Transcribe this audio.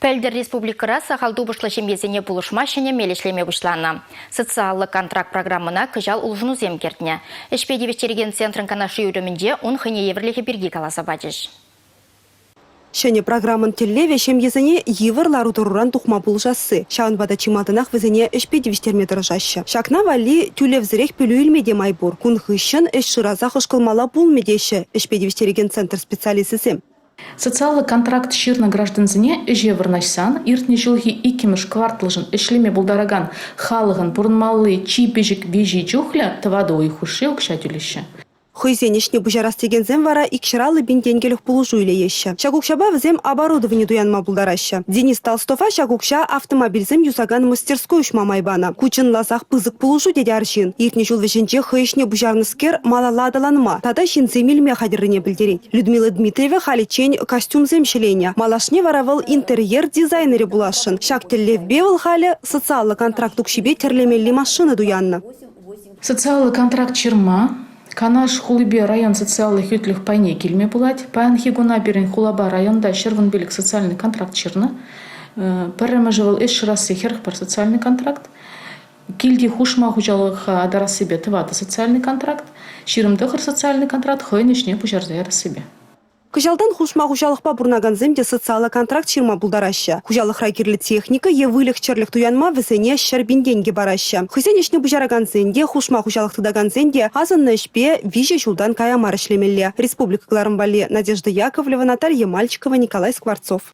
Пӗлтӗр республикӑра сахал тупӑшлӑ ҫемьесене пулӑшма ҫӗнӗ мел ӗҫлеме пуҫланӑ. Социаллӑ контракт программӑна кӑҫал улшӑнусем кӗртнӗ. Ӗҫпе тивӗҫтерекен центрӑн канашлу уйрӑмӗнче ун хӑйне евӗрлӗхӗ пирки каласа пачӗҫ. Ҫӗнӗ программӑн тӗллевӗ ҫемьесене йывӑр лару-тӑруран тухма пулӑшасси. Ҫавӑнпа та чи малтанах вӗсене ӗҫпе тивӗҫтерме тӑрӑшаҫҫӗ. Ҫакна валли тӳлевсӗрех пӗлӳ илме те май пур. Кун хыҫҫӑн ӗҫ шыраса хӑшкӑлмалла пулмӗ теҫҫӗ ӗҫпе тивӗҫтерекен центр специалисчӗсем. Социаллӑ контракт ҫырнӑ граждансене ӗҫе вырнаҫсан иртнӗ ҫулхи иккӗмӗш кварталшӑн ӗҫлеме пултаракан халӑхӑн пурӑнмалли чи пӗчӗк виҫи чухлӗ тӑватӑ уй хушши укҫа тӳлеҫҫӗ. Хӑйсен ӗҫне пуҫарас текенсем вара икҫӗр аллӑ пин тенкӗлӗх пулӑшу илеҫҫӗ. Ҫак укҫапа вӗсем оборудовани туянма пултараҫҫӗ. Денис Толстова ҫак укҫа автомобильсем юсакан мастерской уҫма май панӑ. Ку чӑнласах пысӑк пулӑшу тет арҫын. Иртнӗ ҫул вӗҫӗнче хӑй ӗҫне пуҫарнӑскер малалла аталанма тата ҫынсем илме хатӗррине пӗлтерет. Людмила Дмитриева халиччен костюмсем ҫӗленӗ. Малашне вара вӑл интерьер дизайнерӗ пуласшӑн. Ҫак тӗллевпе вӑл халӗ социаллӑ контракт укҫипе тӗрлемелли машина туяннӑ. Социаллӑ контракт ҫырма Канаш хулипе район социаллӑ хӳтлӗх пайне килме пулать. Паянхи куна пирӗн хулапа районта ҫӗрвун-пилӗк социальный контракт ҫырнӑ. Пӗрремӗшӗ вӑл ӗҫ шырасси хӗрӗх пӗр социальный контракт. Килти хушма хуҫалӑха атарассипе тӑватӑ социальный контракт, ҫирӗм тӑхӑр социальный контракт хӑйӗн ӗҫне пуҫарса ярассипе. Кӑҫалтан хушма хуҫалӑхпа пурӑнакансем те социаллӑ контракт ҫырма пултараҫҫӗ. Хуҫалӑхра кирлӗ техника е выльӑх-чӗрлӗх туянма вӗсене ҫӗр пин тенкӗ параҫҫӗ. Хӑйсен ӗҫне пуҫаракансен те, хушма хуҫалӑх тытакансен те асӑннӑ ӗҫпе виҫӗ ҫултан кая мар ӗҫлемелле, республика кӑларӑм валли Надежда Яковлева, Наталья Мальчикова, Николай Скворцов.